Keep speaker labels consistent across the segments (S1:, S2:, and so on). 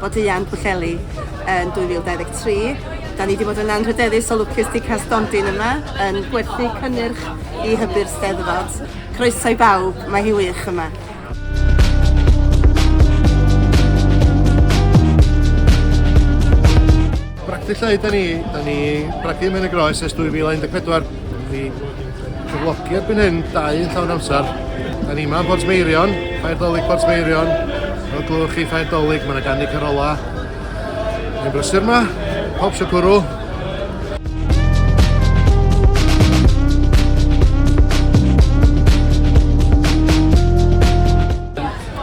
S1: Bodleian Pwllheli yn 2023. Da ni wedi bod yn anrhydeddus o lwcus di cael stondin yma yn gwerthu cynnyrch i hybu'r Steddfod. Croeso i bawb, mae hi wych yma.
S2: Bragdy Lleu 'da ni, 'da ni bragdy Ymen y Groes ers 2014. Dyn ni cyflogi erbyn hyn dau yn llawn amser. Da ni yma yn Port Meirion, Ffairdolig Port Meirion. Fel glywch chi Ffairdolig, mae yna ganddi Carola. Mae'n brysur yma, pob sio cwrw.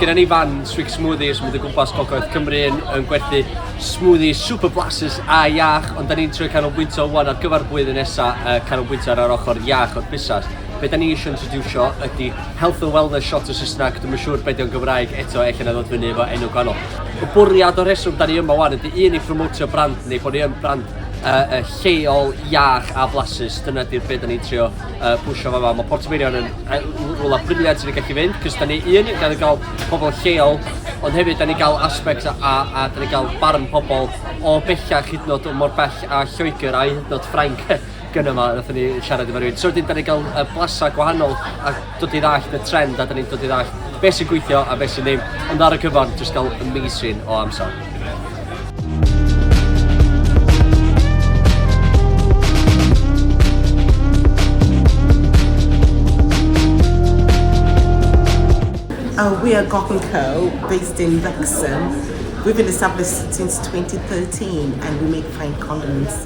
S3: Gyda ni fan Swig Smoothies, mynd o gwmpas Gogledd Cymru yn, yn gwerthu Smoothie super blasus a iach, ond da ni'n trio canolbwyntio wan ar gyfer blwyddyn nesa, uh, canolbwyntio ar yr ochr iach o'r busnes. Be da ni eisiau introducio ydy health and wellness shot o Saesneg, dwi'n siŵr beth o'n Gymraeg eto, eich na ddod fyny efo enw gwahanol. Y bwriad o'r rheswm da ni yma wan ydy un i phromotio brand ni, bod ni yn brand uh, uh, lleol, iach a blasus, dyna di'r beth da ni'n trio uh, pwysio fama. Mae Portmeirion yn rhywle briliant sy'n gallu fynd, cys da ni un, da ni gael pobl lleol, ond hefyd da ni gael aspect a, a, a da ni gael barn pobl o bellach hyd nod mor bell a Lloegr a hyd nod Ffrainc gyda yma, nath ni siarad efo rhywun. So wedyn da ni gael uh, blasa gwahanol a dod i ddallt y trend a da ni'n dod i ddallt beth sy'n gweithio a beth sy'n ddim. Ond ar y cyfan, jyst gael amazing o amser.
S4: Uh, we are Gok & Co, based in Wrexham. We've been established since 2013 and we make fine condiments.